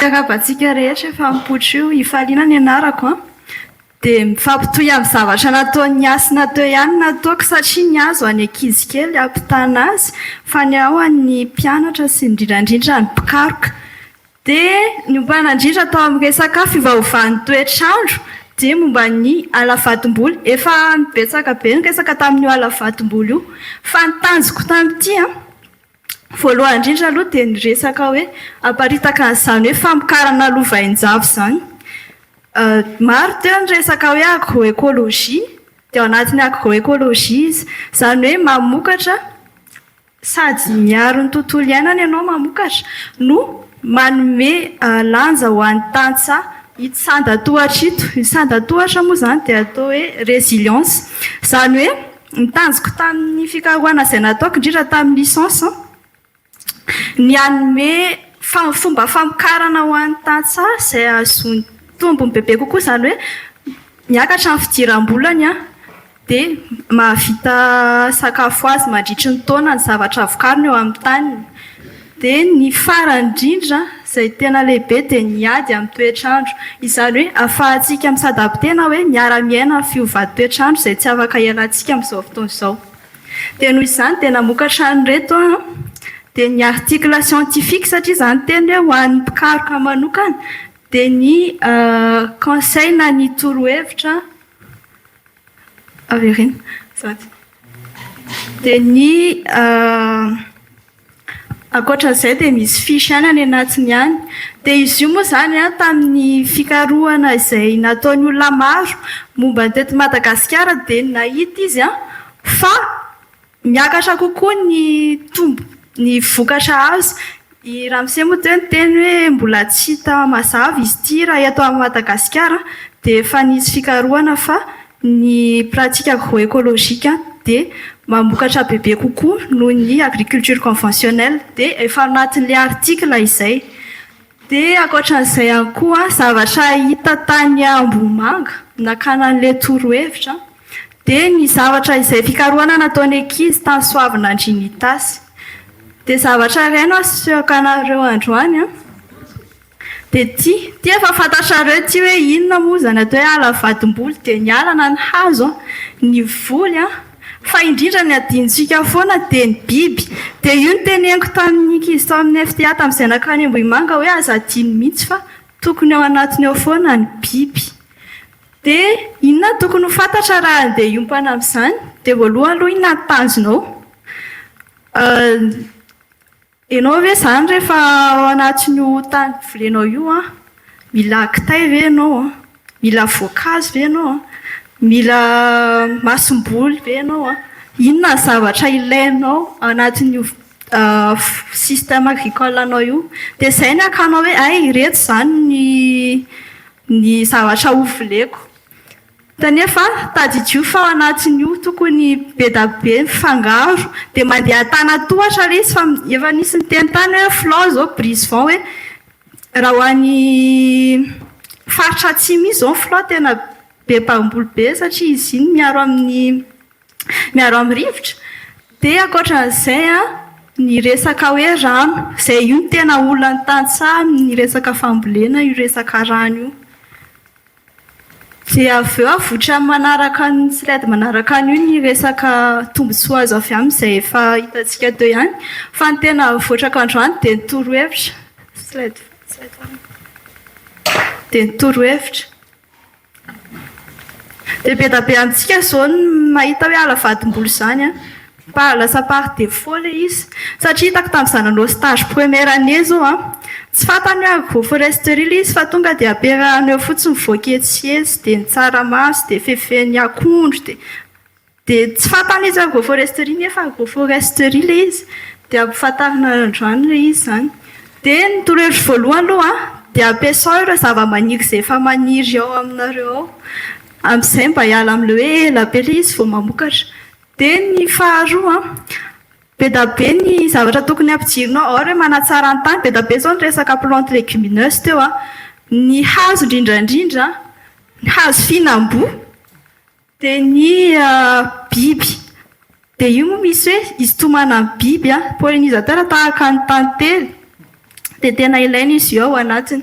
Arabantsika rehetra efa mipoitra io ifaliana ny anarako an. Dia mifampitohy amin'ny zavatra nataon'ny hasina teo ihany ny ataoko satria ny azy ho an'ny ankizy kely hampitana azy fa ny ahy ho an'ny mpianatra sy indrindra indrindra ny mpikaroka. Dia niompanandrindra tao amin'ny resaka fiovaovan'ny toetr'andro dia momba ny ala vatomboly. Efa betsaka be ny resaka tamin'io ala vatomboly io fa ny tanjoko tamin'ity voalohany indrindra aloha dia ny resaka hoe haparitaka an'izany hoe famokarana lova hainjavy izany. Maro teo ny resaka hoe agro-écologie dia ao anatin'ny agro-écologie izy. Izany hoe mamokatra Sady miaro ny tontolo iainana ianao mamokatra no manome lanja ho an'ny tantsaha ito sandan-tohatra ito. Ny sandan-tohatra moa izany dia atao hoe résilience. Izany hoe ny tanjoko tamin'ny fikarohana izay nataoko indrindra tamin'ny licence ny hanome fomba famokarana ho an'ny tantsaha izay hahazoany tombony bebe kokoa izany hoe miakatra ny fidiram-bolany dia mahavita sakafo azy mandritry ny taona ny zavatra avokariny eo amin'ny taniny. Dia ny farany indrindra izay tena lehibe dia ny ady amin'ny toetr'andro. Izany hoe ahafahantsika misadapy tena hoe miara-miaina amin'ny fiovan-toetr'andro izay tsy afaka hialantsika amin'izao fotoana izao. Dia noho izany dia namokatra an'ireto aho an, dia ny article scientifique satria izany teny hoe ho an'ny mpikaroka manokana dia ny conseil na ny torohevitra Avereno. Zato. Dia ny ankoatra an'izay dia misy fiche ihany any anatiny any. Dia izy io moa izany tamin'ny fikarohana izay nataon'ny olona maro momba ny teto Madagasikara dia nahita izy fa Miakatra kokoa ny tombo, ny vokatra azo. I Ramose moa teo niteny hoe mbola tsy hita mazava izy ity raha eto Madagasikara dia efa nisy fikarohana fa ny pratique agro-écologique dia mamokatra bebe kokoa noho ny agriculture conventionnelle dia efa anatin'ilay article izay. Dia ankoatran'izay ihany koa, zavatra hita tany Ambohimanga nakana an'ilay torohevitra dia ny zavatra izay fikarohana nataon'ny ankizy tany Soavinandrian'itasy. Dia zavatra iray no asehoko anareo androany dia ity, ity efa fantatrareo ity hoe inona moa izany atao hoe ala vadim-boly dia ny ala na ny hazo, ny voly. Fa indrindra ny adinontsika foana dia ny biby. Dia io no teneniko tamin'ny ankizy tao amin'ny FTA tamin'izay nankany Ambohimanga hoe aza adino mihitsy fa tokony ao anatiny ao foana ny biby. Dia inona no tokony ho fantatra raha handeha hiompana amin'izany? Dia voalohany aloha inona no tanjonao? Enao ve zany rehefa ao anatin io tany volenao io an, mila kitay ve enao an, mila voankazo ve enao an, mila masomboly ve enao an, inona ny zavatra ilainao anatin io système agricole anao io, dia izay ny akanao hoe hay ireto izany ny zavatra ho voleko. Kanefa tadidio fa ao anatin'io tokony be da be mifangaro dia mandeha tana tohatra ilay izy fa efa nisy niteny tany hoe Flo izao brise vent hoe raha ho any faritra atsimo iny izao ny Flo tena be mpamboly be satria izy iny miaro amin'ny miaro amin'ny rivotra dia ankoatran'izay an, ny resaka hoe rano izay io no tena olan'ny tantsaha amin'ny resaka fambolena io resaka rano io. Dia avy eo avoitra amin'ny manaraka ny slide manaraka an'io ny resaka tombontsoa azo avy amin'izay efa hitantsika teo ihany. Fa ny tena avotrako androany dia ny torohevitra. Slide faharoa. Dia ny torohevitra. Dia be dia be amintsika izao ny mahita hoe hala vadim-bola izany an! Mba lasa par defaut le izy. Satria hitako tamin'izaho nanao stage première année zao an, tsy fantany hoe agroforesterie le izy fa tonga dia ampiarahany eo fotsiny voaketsitsy dia ny tsaramaso dia fefen'ny akondro dia dia tsy fantany izy hoe agroforesterie nefa agroforesterie le izy dia ampifantarina androany le izy zany. Dia ny torohevitro voalohany aloha an dia ampiasao ireo zavamaniry izay efa maniry ao aminareo ao, amin'izay mba hiala amin'ilay hoe ela be le izy vao mamokatra. Dia ny faharoa, be da be ny zavatra tokony ampijirinao, ao ireo manatsara ny tany, be da be izao ny resaka plantes légumineuses teo an, ny hazo indrindra indrindra, ny hazo fihinam-boa, dia ny biby. Dia io moa misy hoe hisintomana ny biby an, pollinisateurs tahaka ny tantely, dia tena ilaina izy io ao anatiny.